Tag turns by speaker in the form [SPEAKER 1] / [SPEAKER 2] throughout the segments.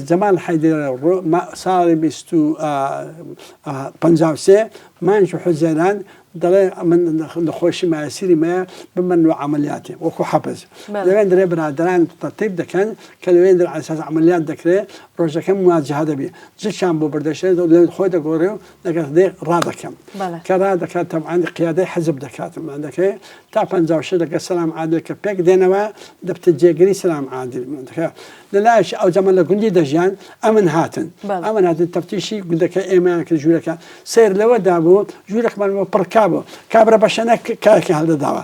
[SPEAKER 1] جەمال حەیدەر، ساڵی بیست و پەنجا و سێ، مانگی حوزەیران، دەڵێ من نەخۆشی مایەسیری مەیە بمن و عەمەلیاتی وەکو حەپز لەوێن درێ برادەران تەرتیب دەکەن کە لەوێن در عەلەساس عەمەلیات دەکرێ ڕۆژەکە مواجهە دەبی جشان بۆ بردەشێ لەوێن خۆی دەگۆڕێ و لەگەڵ دێ ڕادەکەم کە را دەکات تەمانی قیادەی حەزب دەکاتمان دەکەێ تا پ شش لەگە سلام عادل کە پێک دێنەوە دەبتە جێگری سلام عادل دەکە لە لایش ئەو جەمە لە گوندی دەژیان ئەمن هاتن ئەمن هاتن تەفتیشی گوندەکە ئێمەیان کرد ژوورەکە سیر لەوەدا بوو ژوورەکمان بۆ پڕکا بوو کابرا بەشەنە کاکە هەڵدەداوە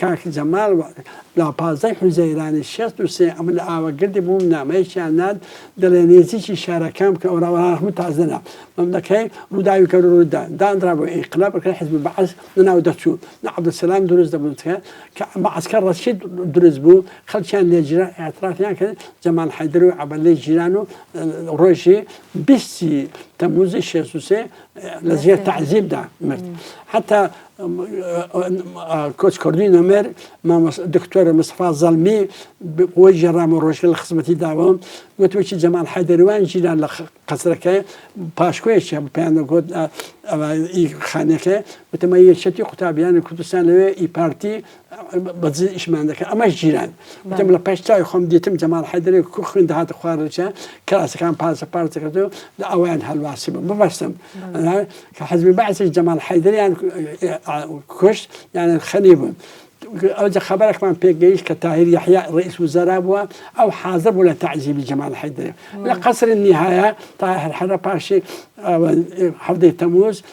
[SPEAKER 1] کاک جەمال وەک لە پازدە ی حوزەیرانی شەست و سێ ئەمن لە ئاوەگردی بووم نامەیەکیان نارد دەلێ نێزیکی شارەکان بکە ئەورا ئەورا هەموو تازە لە مەملەکەی ڕووداوی کەر و ڕووت دا دانرا بوو ئینقلاب ئەکرا حیزبی بەعس لە ناو دەچوو نە عەبدولسەلام دروست دەبوو تکایە کە مەعسکەر ڕەشید دروست بوو خەلکیان لێ جرا ئیعترافیان کرد جەمال حەیدەر و عەبەلەی جیران و ڕۆژی بیست ی تەمووزی شەست و سێ لە زێر تەعزیب دا مرد حەتا کۆچ کردووی نەمر دکتۆر مستەفا زەڵمی بۆی جێڕام و ڕۆژگە لە خزمەتی داوە وتوکی جەمال حەدەروان ژیران لە قەسرەکە پاشکۆیەکە پێیانگوت خانەکە وتەمە یەکێتی قوتابیانی کوردستان لەوێ ئی پارتی بەجێ ئیشمان دەکە ئەمەش جیران دەم لە پێش چاوی خۆم دیتم جەماڵ حەیدەرێ کو خوێن دەهاتە خوارەوە کراسەکان پارچە پارچە کردو لە ئەویان هەلواسی بم ببەستم کە حەزمی بەعسیش جەماڵ حەیدەریان کوشت یانە خەنی بوون. ئەوجە خبرێکمان پێگەیشت کە تاهیر یحیا ڕئیس وزرا بووە ئەو حازە بوو لە تعزیبی جەمال حەیدەرێ لە قەسری نهایە تا هەرحەرە پاشی هەفتەی تەموز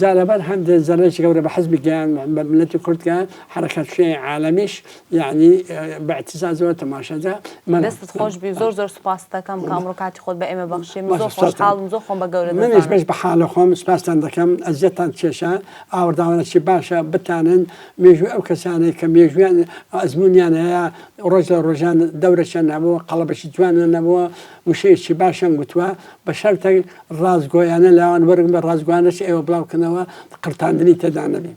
[SPEAKER 1] جا لەبەر هەندێ زەرەرێکی گەورە بە حزبی گەیان بە ملەتی کورد گەیان حەرەکەت شیعی عالەمیش یەعنی بە ئتیزازەوە تەماشا جا مەلا دەستت خۆش
[SPEAKER 2] بی زۆر زۆر سوپاست دەکەم کە ئەمڕۆ کاتی خۆت بە ئێمە بەخشی من زۆر باشە سوپاس خۆشحاڵم زۆر خۆم بە گەورە منیش دەزانم بەش بە حالە خۆم
[SPEAKER 1] سوپاستان دەکەم ئەزیەتتان کێشا ئاوڕداوەنەچی باشە بتانن مێژووی ئەو کەسانەی کە مێژوویان ئەزموونیان هەیە ڕۆژ لە ڕۆژان دەورەکیان نەبووە قەڵەبەکی جوانیان نەبووە وشەیەکی باشیان گوتووە بە شەرتێک ڕاستگۆیانە لەوان وەرگرن، بە ڕاستگۆیانەش ئێوە بڵاوکەنەوە، قڕتاندنی تێدا نەبێ.